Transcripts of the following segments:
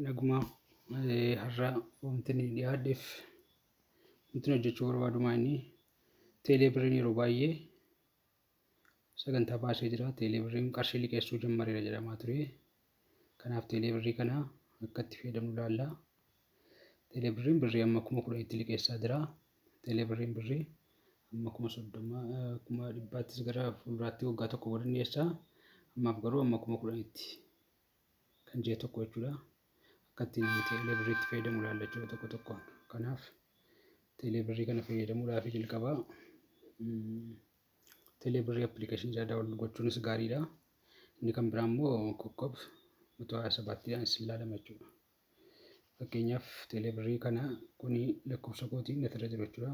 Naguma har'a wanti inni dhiyaadheef wanti hojjechuu barbaadu maa inni teelee birriin yeroo baay'ee sagantaa baasee jira. Teelee birriin qarshii liqeessuu jammareera jedhamaa ture. Kanaaf teelee birrii kana akka itti fayyadamnu ilaalla. Teelee birriin birrii amma kuma kudha itti liqeessaa jira. Teelee birriin birrii amma kuma soddoma kuma dhibbaattis gara fuulduraatti waggaa tokko booda ni dhiyeessa. Ammaaf garuu amma kuma kudhanitti. kan ji'a tokko jechuudha. Akkatti teelee birriitti fayyadamu ilaalla jechuudha tokko tokko. Kanaaf teelee birrii kana fayyadamuudhaaf jalqabaa teelee birrii appilikeeshinii isaa daawwannu gochuunis gaariidha. Inni kan biraa immoo kokkoob mata hayaa sabaatti isin ilaalama jechuudha. Fakkeenyaaf teelee birrii kana kuni lakkoofsa kootiin asirra jiru jechuudha.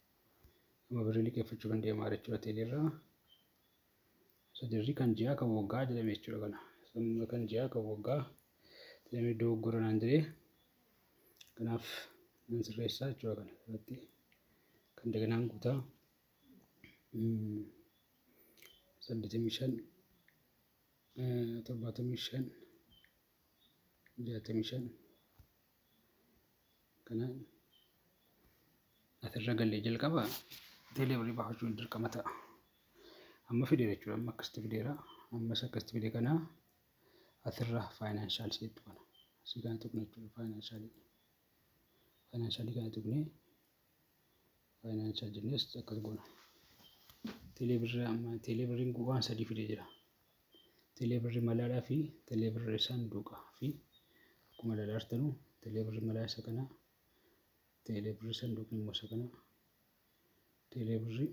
Amma birrii liqeeffachuu kan deemaa jira jechuudha teeleerraa. Isa dirrii kan ji'aa kan waggaa jedhame jechuudha kana. Samma kan ji'aa kan waggaa jedhamee dogoggora naan jedhee kanaaf nan sirreessaa jechuudha kana irratti kan daganaan guutaa. Saddeetamii shan torbaatamii shan jaatamii shan. kana asirra galle jalqaba teelee birrii baafachuun dirqama ta'a. Amma fideera jechuudha. Amma akkasitti fideera. Ammas akkasitti fide kana asirra faayinaanshaal seetti kana. Asii kana tuqna jechuudha faayinaanshaal. Faayinaanshaal kana tuqnee Faayinaan chaajinnees akkas goona. Teeleebirri amma teeleebirriin waan sadii fidee jira. Teeleebirri malaadhaa fi teeleebirri saanduqa fi akkuma ilaalaa jirtanu teeleebirri malaa isa kana teeleebirri saanduqni immoo isa kana teeleebirri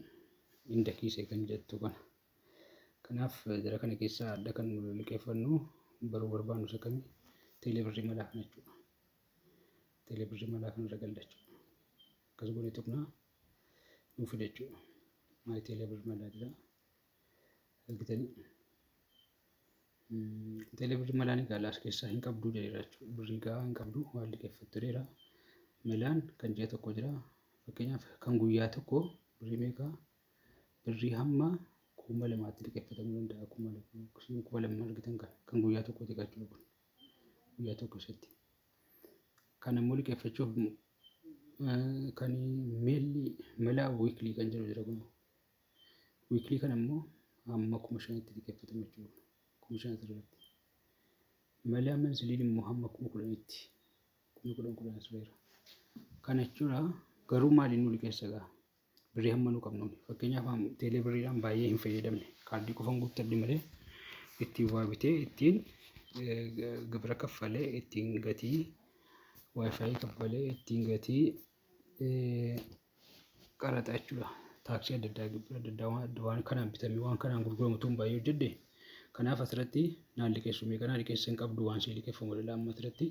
indakiisee kan jettu kana. Kanaaf jara kana keessaa adda kan liqeeffannu baruu barbaannu isa kami teeleebirri malaa kana jechuudha. Teeleebirrii malaa kanarra galla jechuudha. Akkas goonee tuqnaa nuu fida jechuudha. Maayii teeleebirrii malaa jira. Argitanii teeleebirrii malaan egaa laas keessaa hin qabduu jedheera jechuudha. Birrii gahaa hin qabdu waan liqeeffattu jedheera. Malaan kan ji'a tokko jira. Fakkeenyaaf kan guyyaa tokko birrii meeqaa birrii hamma kuma lamaatti liqeeffatamuu danda'a. Kuma lama kuma lama argitan kan guyyaa tokkooti jechuudha kun. guyyaa tokko keessatti kan ammoo liqeeffachuuf kan meelli melaa wiiklii kan jiru jira kun wiiklii kan ammoo hamma kuma shanitti liqeeffatamu jechuudha kuma shan asirratti melaa mansiliin immoo hamma kuma kudhanitti kuma kudhan kudhan tureera kana jechuudha garuu maaliin nu liqeessa gaa Birrii hamma nu qabnu fakkeenyaaf teelee birriidhaan baay'ee hin fayyadamne kaardii qofan guuttadhe malee ittiin waa bitee ittiin gibira kaffalee ittiin gatii waayifaayi kaffalee ittiin gatii qaraxa jechuudha. Taaksii adda addaa gibira adda addaa waan adda waan kanaan bitamee waan kanaan gurguramu tun baay'ee hojjedhe. Kanaaf asirratti naan liqeessu meeqa naa liqeessa hin qabdu waan sii liqeeffamu dhala amma asirratti.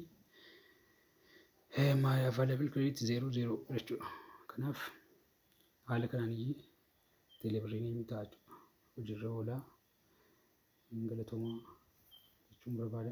my available credit zero zero jechuudha. Kanaaf haala kanaan iyyii teelebirriin hin ta'a jechuudha. Hojiirra oolaa hin galatoomaa jechuun barbaada.